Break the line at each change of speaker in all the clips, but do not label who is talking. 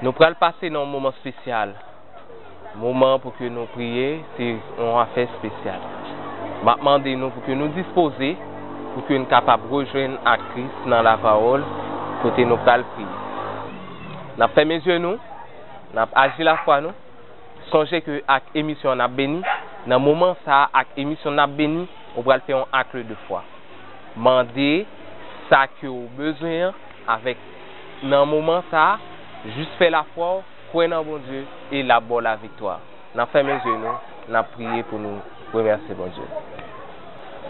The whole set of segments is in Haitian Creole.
Nou pral pase nan yon moman spesyal. Moman pou ke nou priye, se yon afè spesyal. Map mande nou pou ke nou dispoze, pou ke nou kapab rejwenn ak Kris nan lapawòl, kote nou pral priye. Nap fèmen zye nou, nap aji lafwa nou. Sonje ke ak emisyon an nap beni. Nan moman sa a, ak emisyon nap beni, ou pral fè yon akle de fwa. Mande sa ke ou bezwen an avèk. Nan moman sa, jis fè lafwa w, kwè nan Bondye e l ap ba w laviktwa. N ap fèmen zye nou, n ap priye pou nou remèsye Bondye.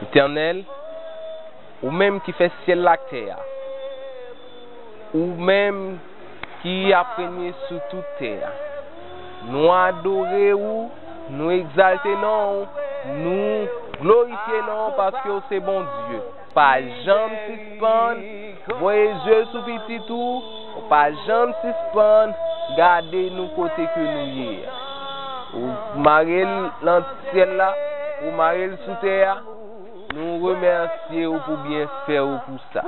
Etènèl, ou menm ki fè syèl la ak tè a, ou menm ki ap renye sou tout tè a, nou adore ou, nou egzalte non w, nou glorifye non w paske w se Bondye. Pa janm sispann voye je sou pitit ou, ou pa janm sispann gade nou kote ke nou ye a. Ou mare l lan syèl la, ou mare l sou tè a, nou remèsye ou pou byenfè ou pou sa.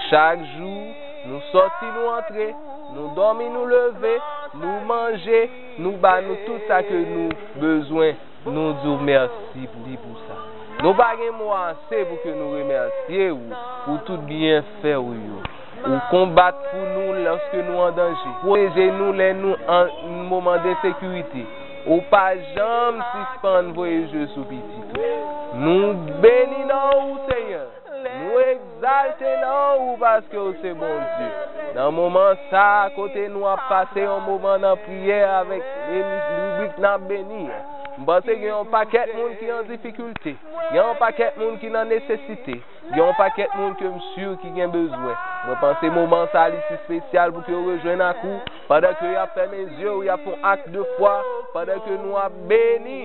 Chak jou, nou sòti nou antre, nou dòmi nou leve, nou manje, nou ba nou tout sa ke nou bezwen. Nou di w mèsi pou sa. Nou pa gen mo ase pou ke nou remèsye ou pou tout byenfè ou yo. Ou konbat pou nou lòske nou an danje. Pwoteje nou lè nou an moman densekirite. Ou pa janm sispann voye je sou pitit ou. Nou beni nan ou, Senyè! Nou egzalte non ou paske ou se Bondye. Nan moman sa a kote nou ap pase yon moman nan priyè avèk ribrik nan beni a. M panse gen yon pakèt moun ki an difikilte, gen yon pakèt moun ki nan nesesite, gen yon pakèt moun ke m si ki gen bezwen. Mwen panse moman sa a li si spesyal pou ke yo rejwenn ak ou pandan ke y ap fèmen zye yo y ap fon ak de fwa pandan ke nou ap beni.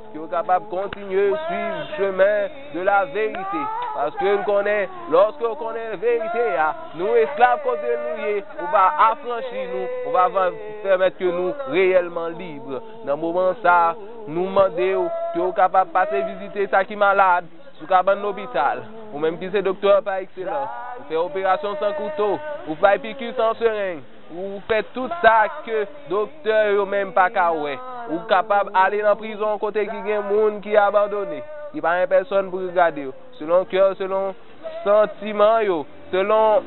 Ke ou kapab kontinye swiv chemen de la verite. Paske m konnen, loske ou konnen verite ya, nou esklav kote nou ye, ou va afranchi nou, ou va van pèmèt ke nou reyèlman libre. Nan moman sa, nou mande ou, ke ou kapab pase vizite sa ki malad, sou kabann lopital. Ou menm ki se doktè pa ekselans, ou fè operasyon san kouto, ou fay piki san sereng. Ou fè tout sa ke doktè yo menm pa ka wè. Ou kapab ale nan prizon kote ki gen moun ki abandone, ki pa gen pèsòn pou gade yo. Selon kè w, selon santiman yo, selon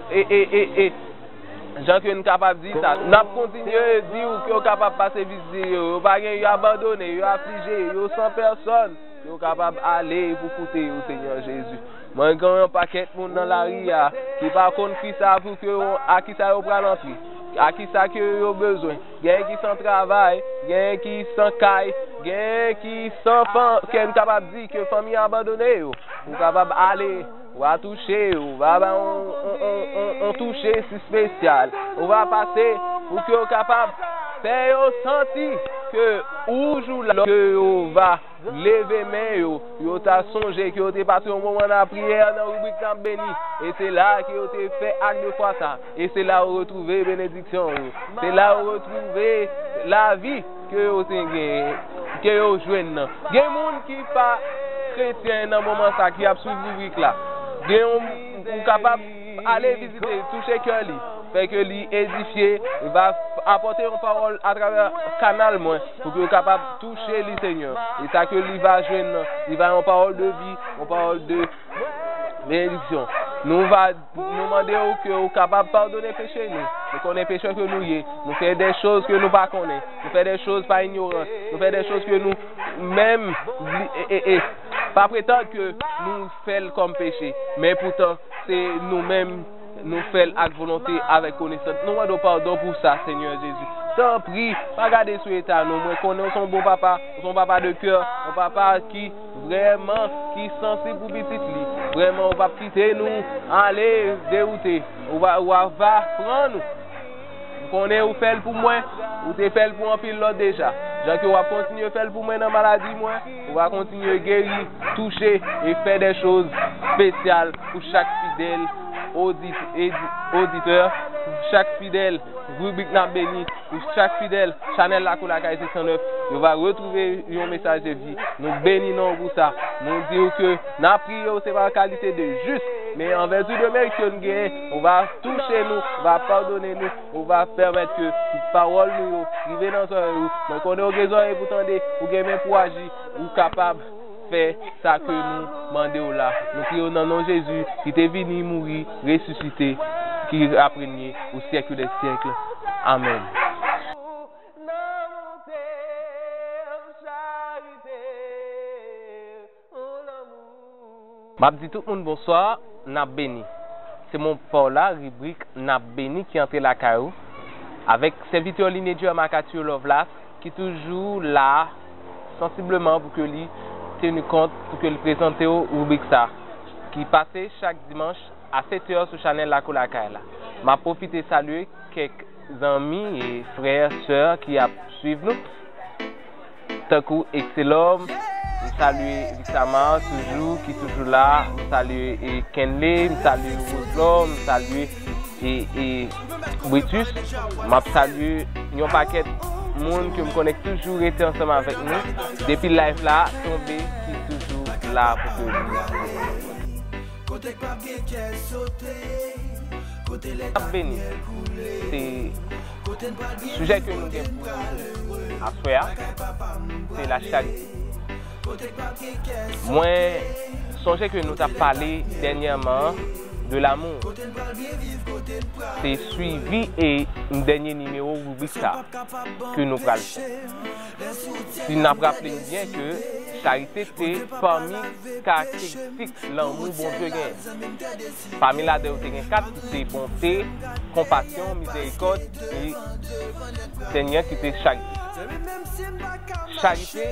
jan ke n kapab di sa. N ap kontinye di ou ke w kapab pase vizite yo. Yo pa gen, yo abandone, yo aflije, yo san pèsòn. Ou kapab ale pou koute yo, Senyè Jezi. Mwen gen yon pakèt moun nan lari a ki pa konn kisa pou ke yo, ak kisa yo pral antre, ak kisa ke yo bezwen. Genyen ki san travay, genyen ki san kay, genyen ki san fan, ke n kapab di ke fanmi abandone yo. Ou kapab ale, ou va touche, ou va bay yon, yon, yon, yon touche si spesyal. Ou va pase pou ke yo kapab fè yo santi ke ou jou la, ke yo va. Leve men yo, yo ta sonje ke yo te pase yon moman nan lapriyè nan ribrik N ap beni, e se la a ke yo te fè ak de fwa sa a, e se la yo retwouve benediksyon yo, se la yo retwouve lavi ke yo te genyen, ke yo jwenn nan. Gen moun ki pa kretyen nan moman sa a ki ap swiv ribrik la, gen yon, ou kapab. P. Ale vizite li, touche kè li, fè ke li edifye, e va apòte yon pawòl atravè kanal mwen, pou ke yo kapab touche li, Senyè. E sa ke li va jwenn nan, li va yon pawòl de vi, yon pawòl de benediksyon. Nou va, nou mande ou ke ou kapab padone peche nou. Nou konnen pechè ke nou ye. Nou fè de choz ke nou pa konnen. Nou fè de choz pa inyorans. Nou fè de choz ke nou menm, e, e, e, pa pretand ke nou. fè l kòm peche, men epoutan, se nou menm, nou fè l ak volonte, avèk konesans. Nou mande w padon pou sa, Senyè Jezi. Tanpri, pa gade sou eta nou. Mwen konnen ou se yon bon papa, ou se yon papa de kè, yon papa ki, vrèman, ki sansib pou pitit li. Vrèman, ou p ap kite nou ale dewoute. Ou va, ou va pran nou. M konnen ou fè l pou mwen, ou te fè l pou anpil lòt deja. Jan ke w ap kontinye fè l pou mwen nan maladi mwen. Ou va kontinye geri, touche, e fè dè choz spesyal pou chak fidèl oditè, pou chak fidèl ribrik Nap Beni, pou chak fidèl chanèl Lakou Lakay 609. Yo va retwouve yon mesaj de vi. Nou beni non ou pou sa. Nou di ou ke nap priye ou se pa an kalite de jis, men an vèti de merit ke nou genyen, ou va touche nou, ou va padone nou. Ou va pèmèt ke pawòl nou yo rive nan zòrèy ou. Mwen konnen ou gen zòrèy pou tande, ou gen men pou aji. Ou kapab fè sa ke nou mande ou la. Nou priye ou nan non Jezi ki te vini, mouri, resisite, ki ap renye pou syèk dè syèk. Amèn. Map di tout moun bonswa, nap beni. Se mwen pa w la, ribrik nap beni ki antre lakay ou avèk sèvitè w Linédieu Macathieu Lovelace ki toujou la sansibleman pou ke li tenu kont pou ke li prezante w ribrik sa ki pase chak dimanch a 7 è sou chanèl Lakou Lakay la. Map pwofite salye kèk zanmi e frè, sè ki ap swiv nou. Tankou Excelom, m salye Vixamar toujou ki toujou la, m salye Kenley, m salye Roselor, m salye Britus, m ap salye yon pakèt moun ke m konnen ki toujou rete ansanm avèk nou depi live la tonbe ki toujou la pou ke m ap beni. Sujè ke nou gen pou nou aswè a, se la charite. Mwen sonje ke nou tap pale dènyèman an de l'amour. Se swivi e dènye nimewo rubrik sa ke nou pral fè. Si nap raple nou byen ke charite te pami karakteristik lanmou Bondye genyen. Pami ladan yo te gen kat ki se bonte, konpasyon, mizerikòd, ki Senyè ki te chak di. Charite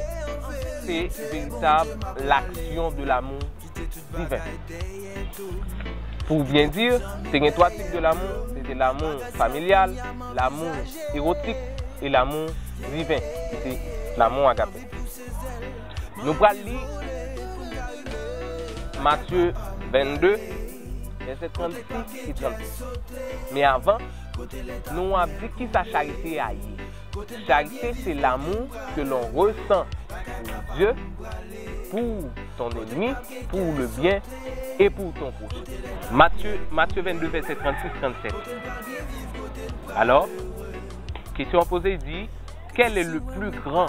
se veritab l'action de l'amour divin. Pou byen di, te gen twa tip de l'amour, se te l'amour familial, l'amour erotique, e l'amour divin, ki se l'amour agape. Nou pral li Matye 22, vèsè 36 e 37. Men avan, nou ap di ki sa charite a ye. Charite se lamou ke lon resan pou Dye, pou ton enemi, pou le byen e pou ton pwochen. Matye, Matye 22 vèsè 36, 37. Alò, kesyon an poze di, Kèl e le pli gran?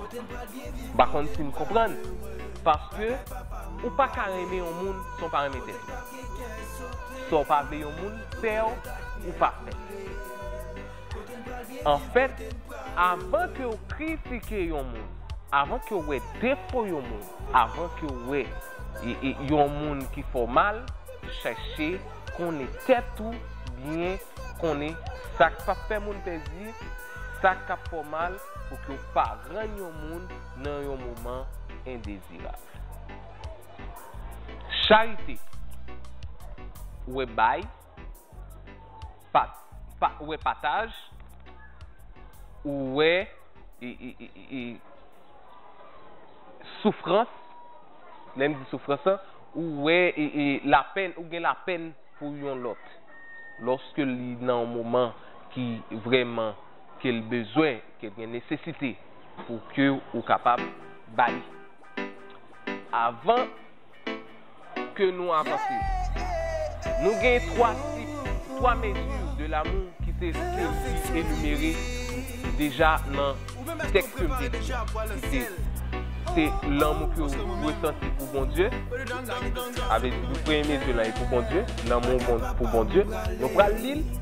M pa konn si n konprann, paske ou pa ka renmen yon moun san w pa renmen tèt ou. Sa w pa vle yon moun fè w, ou pa fè l. Anfèt, avan ke w kritike yon moun, avan ke w wè defo yon moun, avan ke w wè yon moun ki fè w mal, chèche konnen tèt ou byen, konnen sa k pa p fè moun plezi, sa k ap fè w mal, pou ke w pa rann yon moun nan yon moman endezirab. Charite, wè bay, wè pataj, ou wè soufrans, lè m di soufrans lan, ou wè lapèn, ou gen lapèn pou yon lòt, lòske li nan yon moman ki vrèman. ke l bezwen, ke l gen nesesite pou ke ou kapab ba li. Avan ke nou avanse, nou gen 3 tip, 3 mezi de lamou ki te enimere deja nan tèks ke m te li a, ki te, se lanmou ke ou dwe santi pou Bondye, sa vle di pou premye mezi lan e pou Bondye, lanmou pou Bondye, nou pral li l.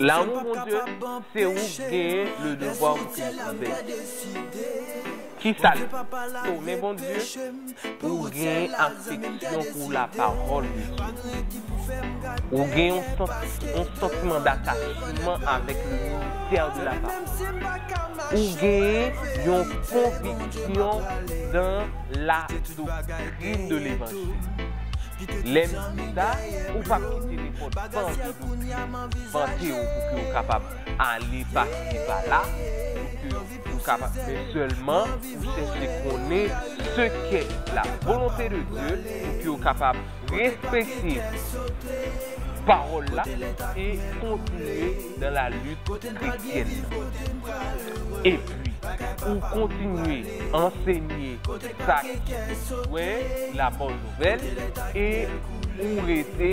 Lanmou Bondye, se ou k genyen le devwa pou ke li sove nou. Kisa l di? Tonnè Bondye, ou genyen afeksyon pou lapawòl de Jezi. Ou gen yon santiman datachman avèk le ministè de lapawòl. Ou genyen yon konviksyon dan la doktrin de levanjil. Lè m di sa, ou p ap kite nenpòt fòm de doktrin. vante ou pou ke ou kapab ale pa si pa la, pou ke ou kapab men sèlman ou chèche konnen se kè la volonte de Dye pou ke ou kapab respekte pawòl la e kontinye nan la lit kretyèn nan. E pi ou kontinye ansenye sa ki bezwen la bòn nouvèl e ou rete.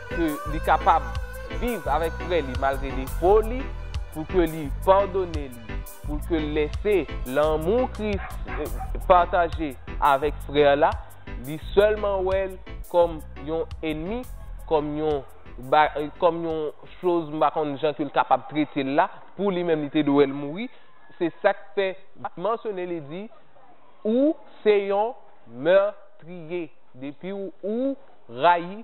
ke li kapab viv avèk frè li malgre defo li, pou ke li padone li, pou ke l lese lanmou Kris pataje avèk frè la, li sèlman wè l kòm yon enmi, kòm yon, kòm yon choz m pa konn jan ke l kapab trete l la, pou li menm li te dwe wè l mouri, se sa k fè li mansyone li di, ou se yon mètriye, depiw ou rayi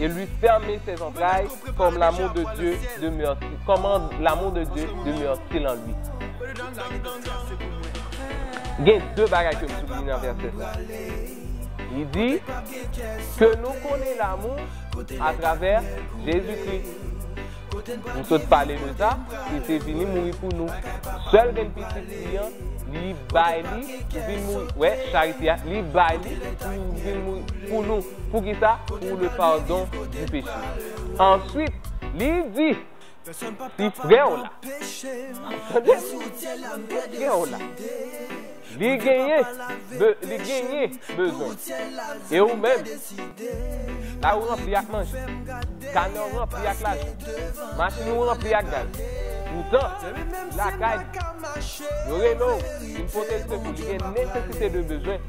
et lui fermer ses entrailles comme l'amour de Dieu demeure comment l'amour de Dieu demeure-t-il en lui Gen 2 bagay ke m souliye nan vèsè sa. Li di, ke nou konnen lamou atravè Jezikri. M sot pale de sa, li te vini mouri pou nou. Sèl gen pitit li an, li bay li pou vin mouri. Wè, charite a, li bay li pou vin mouri pou nou. Poukisa? Pou le pardon du péché. Answit, li di, Si frè w la, tande, si frè w la, li genyen, be, li genyen bezwen, e ou menm, kay ou ranpli ak manje, kanè w ranpli ak lajan, machin ou ranpli ak gaz, poutan, lakay li, yo rele w, vin pote l sekou, li gen nesesite de bezwen,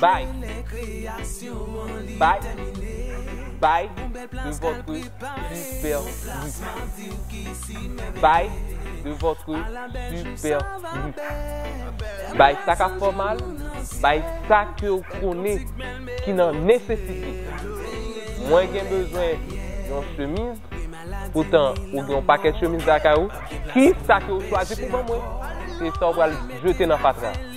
Bay Bay Bay de votre superbe Bay de votre superbe Bay sa ka fè w mal Bay sa ke w konnen ki nan nesesite Mwen gen bezwen yon chemiz Poutan ou gen yon pakèt chemiz lakay ou Ki sa ke w chwazi pou ban mwen Se sa w pral jete nan fatra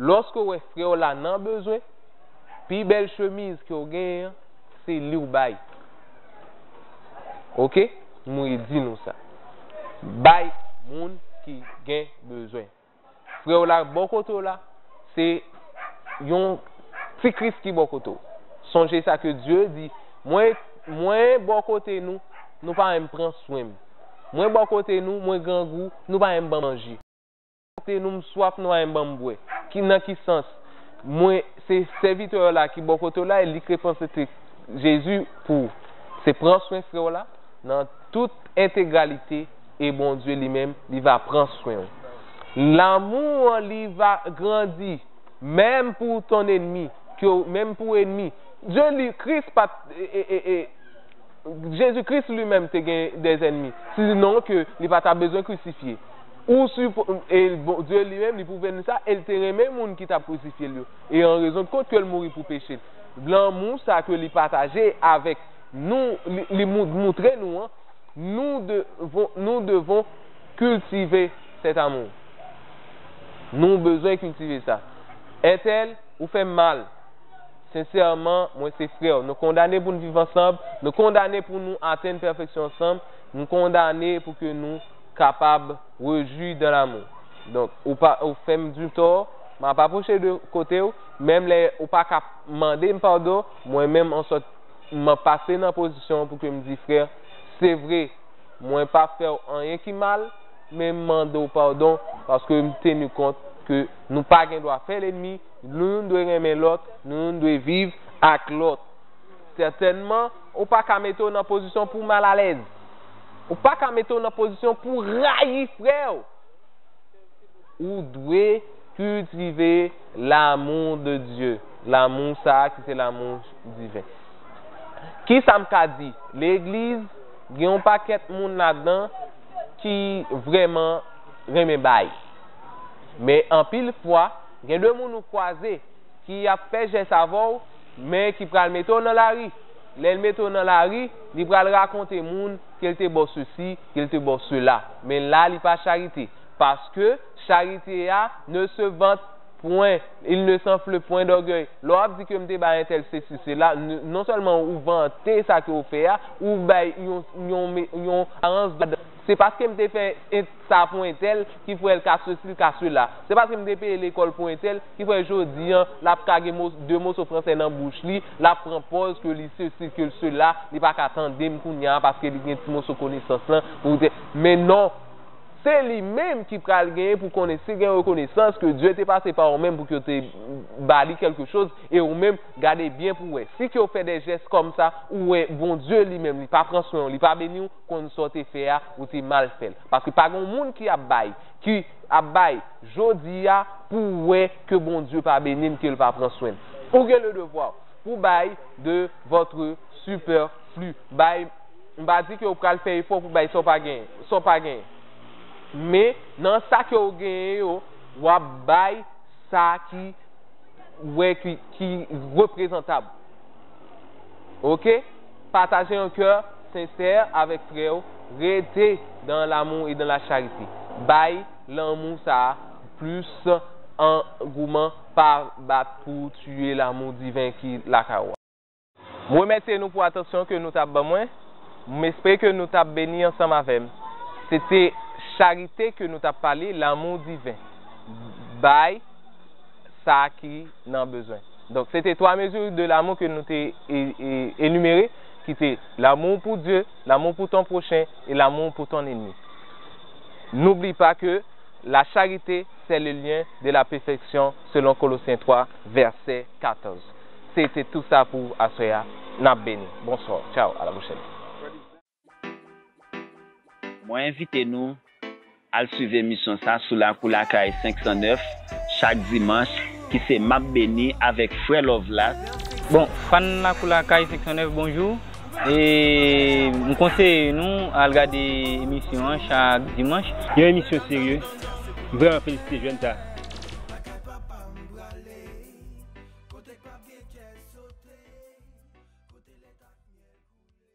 Lòske w wè frè w la nan bezwen, pi bèl chemiz ke w genyen an, se li w bay. Ok? M redi nou sa. Bay moun ki gen bezwen. Frè w la bò kote w la. se yon Ti Kris ki bò kote w. Sonje sa ke Dye di, Mwen, Mwen bò kote nou, nou pa menm pran swen m. Mwen bò kote nou, Mwen grangou, nou pa menm ban m manje. Mwen bò kote nou, M swaf, nou pa menm ban m bwè. Ki, nan ki sans? Mwen, se sèvitè w la ki bò kote w la, e li k reprezante Jezi pou w. Se pran swen frè w la nan tout entegralite. e Bondye li menm li va pran swen ou. Lanmou an li va grandi menm pou ton enmi ke w menm pou enmi Dye li Kris pa t Jezi Kris li menm te gen dè enmi si non ke li pa ta bezwen krisifye ou si e Bondye li menm li pwouve n sa e l te renmen moun ki t ap krisifye l yo e an rezon de kont ke l mouri pou peche l lanmou sa ke li pataje avèk nou li moutre nou an Nou devon nou devon kiltive cet amour nou bezwen kiltive sa Ethel ou fèm mal sensèman mwen se frèw nou kondane poun viv ansanb nou kondane pou nou atenn pèfeksyon ansanm nou kondane pou ke nou kapab rejwi dan l'amour donk ou pa ou fèm du tò map aproche de kotew menm lè ou paka mandem padon mwen menm an sòt M ap pase nan pozisyon an pou ke m di frè, se vre, mwen pa fè w anyen ki mal, men m mande w padon paske m tenu kont ke nou pa gen dwa fè lenmi, nou youn dwe renmen lòt, nou youn dwe viv ak lòt. Sètènman, ou pa ka mete w nan pozisyon pou w mal alèz. Ou pa ka mete w nan pozisyon pou w rayi frè w. Ou dwe kiltive lamou de Dye, lamou sa a ki se lamou. Diven. Kisa m ka di? Legliz gen yon pakèt moun ladan ki vrèman renmen bay. Men anpil fwa, gen de moun ou kwaze ki ap fè jès avè w, men ki pral mete w nan lari. Lè l mete w nan lari, li pral rakonte moun ke l te ba w sesi, ke l te ba w sela. Men la li pa charite. Paske charite a ne se vant. Pwen, il ne s'enfle point d'orgueil. Lè w ap di ke m te bay entèl sesi sela, non sèlman ou vante sa ke ou fè a, ou bay yon, yon, yon aparans de gwadans. Se paske m te fè sa pou entèl ki fè l ka sesi, l ka sela. Se paske m te peye lekòl pou entèl ki fè jodi an l ap ka gen mo, de moso fransè nan bouch li, l ap pran pòz ke li sesi, ke l sela, li pa ka tande m kounye a paske li gen ti moso konesans lan, men non! Se li menm ki pral genyen pou konnen si gen rekonesans ke Dye te pase pa ou menm pou ke w te ba li kèlke choz e ou menm gade byen pou wè si ke w fè de jès kòm sa ou wè Bondye li menm li pa pran swen w li pa beni w konn sa w te fè a ou te mal fè l paske pa gen yon moun ki ap bay ki ap bay jodi a pou w wè ke Bondye pa beni l ke l pa pran swen l ou gen le devwa pou bay de votre superflu bay M pa di ke ou pral fè efò pou bay sa w pa genyen, sa w pa genyen. Men, nan sa ke ou genyen yo, w ap bay sa ki wè ki reprezantab. Ok? Pataje yon kè sensè avèk frè ou, rete dan lamou e dan la charite. Bay lanmou sa a plis angouman, pa bat pou tiye lamou diven ki lakay ou a. M remèsye nou pou atansyon ke nou t ap ban mwen. M espere ke nou t ap beni ansanm avè m. Se te charite ke nou t ap pale, lanmou diven. Bay sa ki nan bezwen. Donk, se te twa mezi de lanmou ke nou te enimere, ki te, lanmou w pou Dye, lanmou w pou ton pwochen, e lanmou w pou ton enmi. N'oublie pas que la charité c'est le lien de la perfection selon Colossiens 3 verset 14. Se te tou sa pou aswè a. Nap beni. Bonsoir. Ciao. A la prochaine.
Mwen envite nou al swiv emisyon sa sou Lakou Lakay 509 chak dimanch ki se Map Beni avèk Frè Lovelas. Bon fan
Lakou Lakay 509 bonjou e m konseye nou al gade emisyon
an
chak
dimanch.
Yon
emisyon serye, m vreman felisite
jèn
sa. Kote k pap gen kè sote. Kote lèt ak myèl koule.